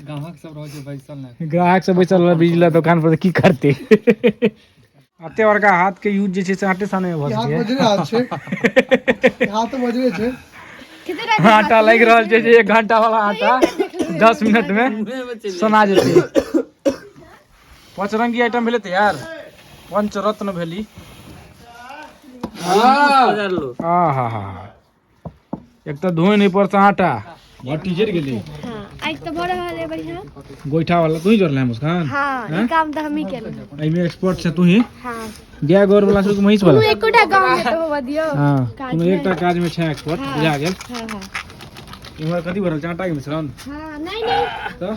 ग्राहक सब रहै छै बैसल ने ग्राहक सब बैसल रहल बिजली दोकान पर तऽ की करतै अते बड़का हाथ के यूज जे छै से आटे साने भऽ हाथ बजरे हाथ छै हाथ बजरे छै आटा लागि रहल छै जे एक घंटा वाला आटा दस मिनट में सना जेतै पचरंगी आइटम भेलै तैयार पंचरत्न भेली हाँ हाँ हाँ एक तऽ धोए नहीं पड़ता आटा भट्टी जर गेली हां आज तो बड़ा रहल है बढ़िया गोइठा वाला तू ही जोड़ले है मुस्कान हां ये काम तो हम ही केले एहि में एक्सपर्ट से तू ही हां गाय गोर वाला से महिष वाला तू एकोटा काम में तो होवा दियो हां तू एकटा काज में छै एक्सपर्ट बुझा गेल हां हां इमहर कथी भरल चाटा के मिश्रण हां नहीं नहीं तो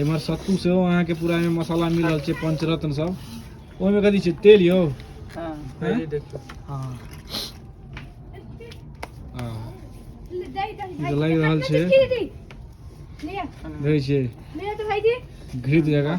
इम्हर सत्तू सेहो अहाँके पूरा एहिमे मसाला मिल रहल छै पंचरत्न सब ओहिमे कथी छै तेल यौ हाँ। हैं? हाँ। आ, ई तऽ लागि रहल छै देखै छियै घृत जकाँ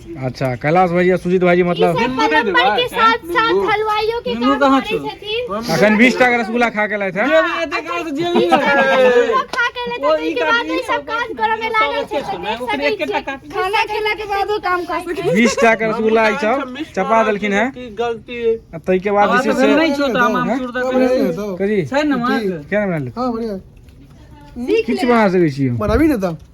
अच्छा कैलाश भाई सुजीत भाई मतलब अखन बीस टा रसगुल्ला खा के लाए थे बीस टा के रसगुल्ला ई सब चपा देलखिन है गलती तै के बाद जे छै से करी छै ना क्या बना ले हां बढ़िया किछ बना सकै छी बनाबी ने त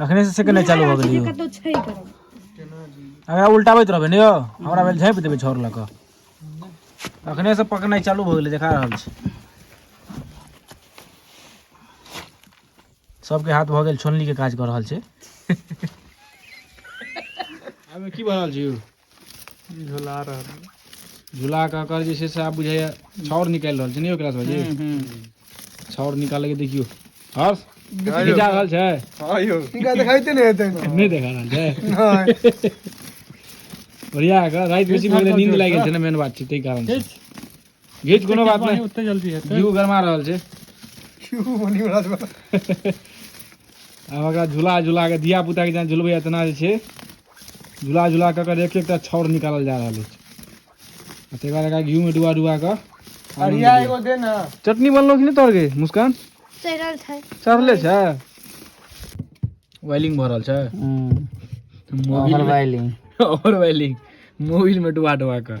अखने से के नहि चालू भऽ गेलियै कतौ छै अगर उलटाबैत रहबै ने यौ हमरा भेल झाँपि देबै छौर लऽ कऽ अखने से पकनाइ चालू भऽ गेलै देखा रहल छी सबके हाथ भऽ गेल छोलनी के काज कऽ रहल छै की भऽ रहल छै झुला रहल झूला कऽ कऽ जे छै से आब बुझाइए छाउर निकालि रहल छै ने ओकरा सब जी छाउर निकालैके देखियौ हर्ष की जा रहल छै हँ यौ इनका देखाइते नहि हेतै नहि देखा रहल छै बढ़िया कऽ राति बेसी भऽ गेलै नींद लागि गेल छै ने मेन बात छै ताहि कारण घीच कोनो बात नहि ओते जल्दी हेतै जीव गरमा रहल छै क्यों बनी बड़ा बड़ा आब ओकरा झूला झूला के धिया पुता के जेना झुलबै तेना जे छै झूला झूला कऽ कऽ एक एकटा छौर निकालल जा रहल अछि आ तकर बाद एकरा घीमे डुबा डुबा कऽ अरिया एगो दे ना चटनी बनलो कि नहि तोहर गे मुस्कान चढ़ल छै चढ़ले छै वायलिंग भऽ रहल छै मोबिल वायलिंग और वायलिंग मोबिल में डुबा डुबा कऽ